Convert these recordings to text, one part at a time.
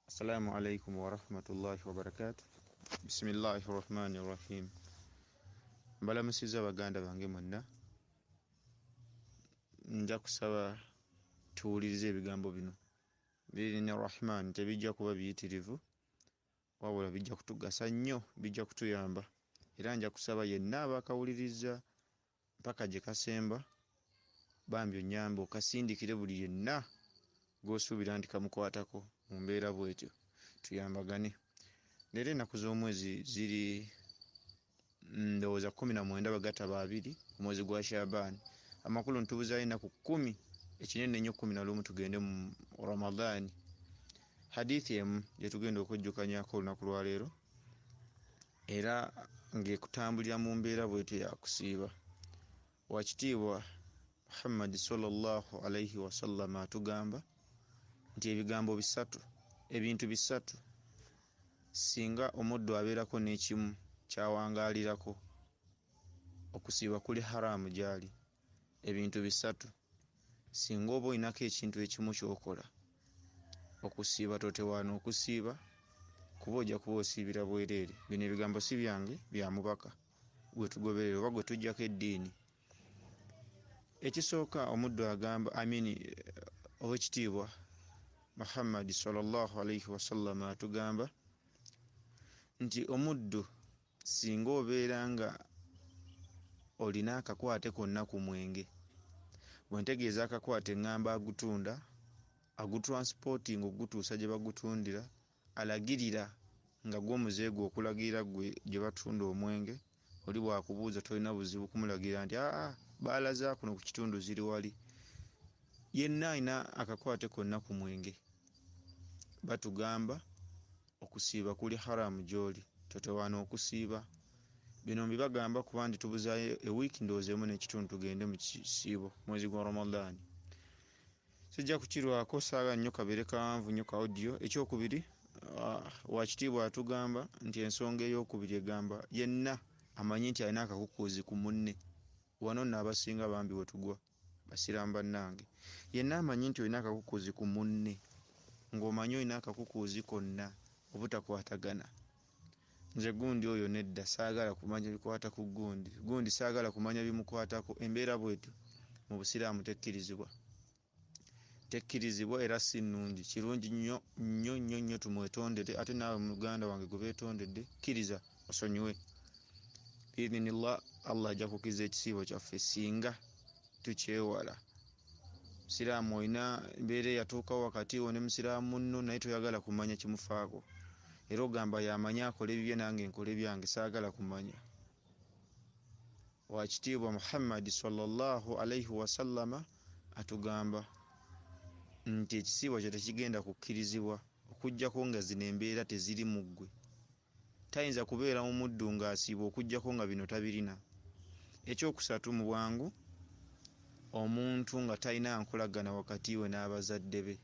Assalamu alaikum warahmatullahi wabarakatu bisimillahi rahmani rahim mbalamusiza baganda bange mwenna nja kusaba tuwulirize ebigambo bino birini rahman tebijja kuba biyitirivu wabula bijja kutugasa nnyo bijja kutuyamba era nja kusaba yenna abakawuliriza Mpaka gye kasemba bambi onnyambe okasindikire buli yenna gw'osuubira nti kamukwatako mu mbeera bw'etyo tuyambagane. Leero ennaku z'omwezi ziri ndowooza kkumi na mwenda bwe gataba abiri omwezi gwa Shaaban. Amakulu nti tubuzaayo ennaku kkumi, ekinene ennyo kkumi na lumu tugende mu Ramadhan. Hadiith emu gye tugenda okujjukanyako olunaku lwa leero Era ng'ekutambulira mu mbeera bw'etyo ya kusiiba. Waakitiibwa Muhammadi swalla Llaahu alaihi wasallama atugamba nti ebigambo bisatu, ebintu bisatu, singa omuddu abeerako n'ekimu ky'awangaalirako, okusiiba kuli haraamu gy'ali. ebintu bisatu singa oba olinako ekintu ekimu kyokola okusiiba totewaana okusiiba kuba ojja kuba osiibira bwereere bino ebigambo si byange bya mubaka gwetugoberera oba gwetujjako eddiini ekisooka omuddu agamba amini eh, owekitiibwa muhammadi salllahu alaihi wasallama atugamba nti omuddu Singa obeera nga olina akakwate konna ku mwenge, bwe ntegeeza akakwate ngamba agutunda, agutransportinga okugutuusa gye bagutundira, alagirira nga gwo muze gwe okulagirira gwe gye batunda omwenge, oli bw'akubuuza tolina buzibu kumulagirira nti aa bbaala za kuno ku kitundu ziri wali. Yenna alina akakwate konna ku mwenge batugamba Okusiiba kuli Haraam gyoli. Totawaana okusiiba. Bino mbibagamba kuba ndi tubuzaayo e week ndowooza emu n'ekitundu tugende mu kisiibo mwezi gwa Ramadhan. Sijja kukirwaako saagala nnyo kabeere kawanvu nnyo ka audio. Ekyokubiri, Wakitiibwa atugamba nti ensonga eyokubiri egamba yenna amanyi nti alina akakukuuzi ku munne. Wano nno abasinga bambi wetugwa. Basiraamu bannange, yenna amanyi nti olina akakukuuzi ku munne, ng'omanyi olina akakukuuzi konna obutakwatagana. Nze gundi oyo nedda, saagala kumanya bikwata ku gundi, gundi saagala kumanya bimukwatako, embeera bw'etyo mu Busiraamu tekkirizibwa. Tekkirizibwa era si nnungi. Kirungi nnyo, nnyo, nnyo, nnyo tumwetondere ate naawe muganda wange gwe beetondedde, kkiriza. osonyiwe biidhinillah allah ajja kukiza ekisiibo kyaffe singa tukyewala musiraamu olina embeera eyatuukawo wakati wo ne musiraamu munno naye toyagala kumanya kimufaako era ogamba yamanyi akola ebibye nange nkola ebyange saagala kumanya wakitiibwa muhammadi sallallahu alaihi wasallama atugamba nti ekisiibo kyo tekigenda kukkirizibwa okujjako nga zino embeera teziri mu ggwe Tayinza kubeera mu muddu ng'asiiba okuggyako nga bino tabirina. Eky'okusatu, mu bwangu omuntu nga talina nkolagana wakati we n'abazadde be.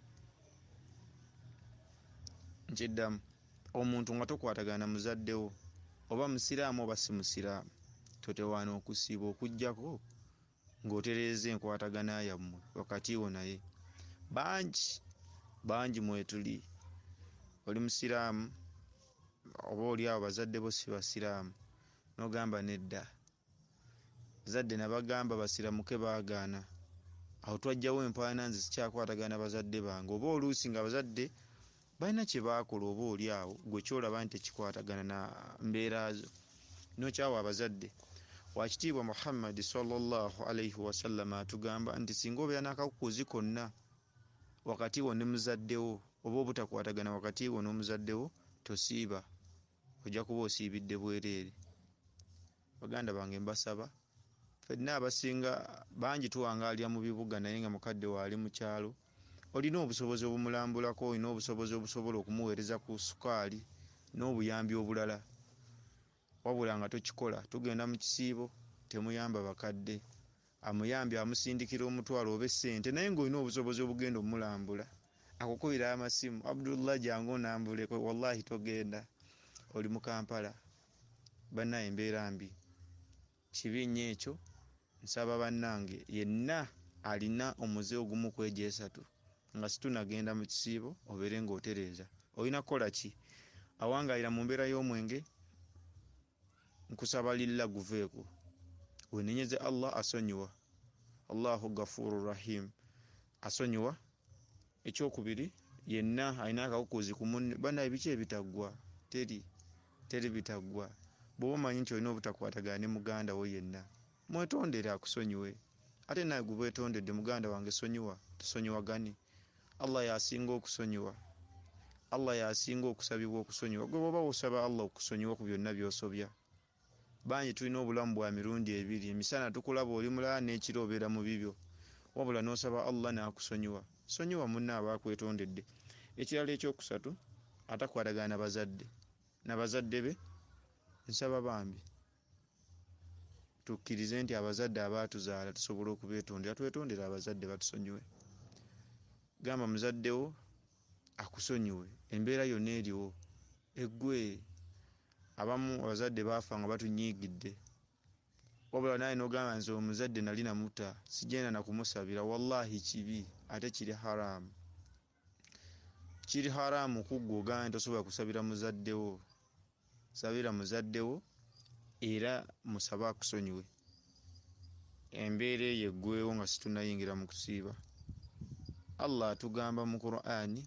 Nkiddamu, omuntu nga tokwatagana na muzadde wo, oba Musiraamu oba si Musiraamu, totewaana okusiiba okuggyako ng'otereeza enkwatagana yammwe wakati wo naye. Bangi bangi mwetuli, oli Musiraamu oba oli awo bazadde bo si Basiraamu n'ogamba nedda, abazadde nabagamba basiramuke baagaana, awo twajjawo empaana nze sikyakwatagana na bazadde bange oba oluusi ng'abazadde Balina kye baakola oba oli awo ggwe ky'olaba nti tekikwatagana na mbeera zo n'okyawa abazadde. Waakitiibwa Muhammad, swalla Llaahu alaihi wasallama, atugamba nti singa obeera n'akakukuuzi konna wakati wo ne muzadde wo oba obutakwatagana wakati wo n'omuzadde wo tosiiba, ojja kuba osiibidde bwereere. Baganda bange mbasaba fenna abasinga bangi tuwangaalira mu bibuga naye nga mukadde wo ali mu kyalo olina obusobozi obumulambulako, olina obusobozi obusobola okumuweereza ku sukaali n'obuyambi obulala wabula nga tokikola tugenda mu kisiibo temuyamba bakadde Amuyambye amusindikira omutwalo oba essente naye ng'olina obusobozi obugenda omulambula akukubira amasimu, Abdullah jangu onambuleko wallahi togenda oli mu Kampala bannaaye embeera mbi kibi nnyo ekyo nsaba bannange yenna alina omuze ogumu ku egyo esatu nga situnagenda mu kisiibo obeere ng'otereeza olina kukola ki? Awangaalira mu mbeera y'omwenge Nkusaba lillah guveeko wenenyeze Allah asonyiwa Allahu gafuru rahim asonyiwa ekyokubiri yenna alina akakukuuzi ku munne banaye biki ebitaggwa teri teri bitaggwa bwoba omanyi nti olina obutakwatagana ne muganda wo yenna mwetondere akusonyiwe. Ate nawe gubwetondedde muganda wange sonyiwa tusonyiwagane Allah yasinga okusonyiwa Allah yasinga okusabibwa okusonyiwa gwe bwoba wosaba Allah okusonyiwa ku byonna byosobya bangi tulina obulamu bwa mirundi ebiri emisana tukulaba oli mulala nekiro obeera mu bibyo wabula nosaba Allah nakusonyiwa sonyiwa munno aba akwetondedde ekirala ekyokusatu atakwatagana na bazadde na bazadde be nsaba bambi tukkirize nti abazadde abaatuzaala tusobola okubetondera twetondere abazadde batusonyiwe gamba muzaddewo akusonyiwe embeera yonna eriwo eggwe abamu abazadde baafa nga batunyiigidde wabula naye nogamba nze omuzadde nali namuta sigenda nakumusabira wallahi kibi ate kiri haramu kiri haramu kuggwe ogambye tosobola kusabira muzaddewo sabira muzaddewo era musabe akusonyiwe embeera eyo eggwewo nga situnayingira mu kusiiba allah atugamba mu qurani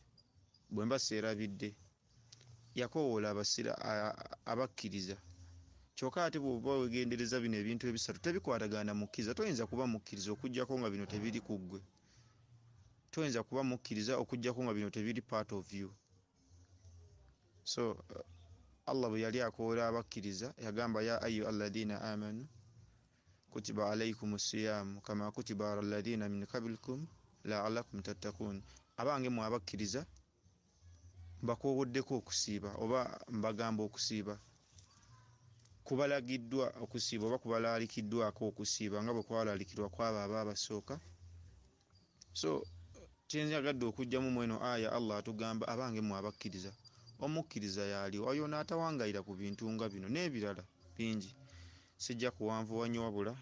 bwe mba seerabidde yakowoola abasira abakkiriza kyokka ate bwoba wegendereza bino ebintu ebisatu tebikwatagana mukkiriza toyinza kuba mukkiriza okujjako nga bino tebiri ku ggwe toyinza kuba mukkiriza okujjako nga bino tebiri part of you so uh, allah bwe yali akoola abakkiriza yagamba ya ayu alladhina amanu kutiba alaikum siyamu kama kutiba ala alladhina min kablikum laalakum tattakun abange mwe abakkiriza mbakoowoddeko okusiiba oba mbagamba okusiiba, kubalagiddwa okusiiba oba kubalaalikiddwako okusiiba nga bwe kwalaalikirwa kwabo abo abasooka so kyenjagadde okujjamu mweno aya Allah atugamba abange mwe abakkiriza omukkiriza yaali oyo naatawangayira ku bintu nga bino n'ebirala bingi sijja kuwanvuwa nnyo wabula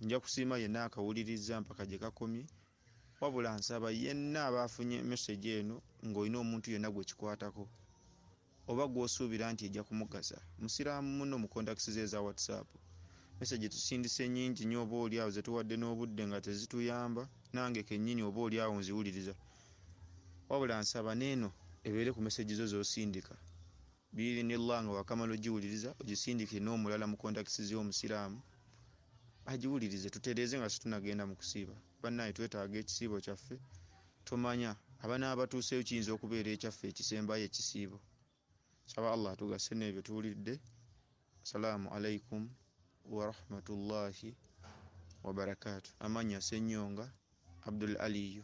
nja kusiima yenna akawulirizza mpaka gye kakomye Wabula nsaba yenna aba afunye message eno nga olina omuntu yenna gwekikwatako oba gwosuubira nti ejja kumugasa musiraamu munno mu contacts ze eza WhatsApp message tusindise nyingi nnyo oba oli awo zetuwadde n'obudde nga tezituyamba nange kennyini oba oli awo nziwuliriza wabula nsaba neeno ebeere ku message zo zosindika Biidhinillah nga wakamala ogiwuliriza ogisindikire n'omulala mu contacts ze omusiraamu agiwulirize tutereeze nga situnagenda mu kusiiba bannaaye twetaaga ekisiibo kyaffe tomanya abanaaba batuuseeyo kiyinza okubeera ekyaffe ekisembayo ekisiibo nsaba Allah atugase n'ebyo tuwulidde Salaamu Alaikum warahmatullahi wabarakatuh amannya Ssenyonga Abdul Aliyu.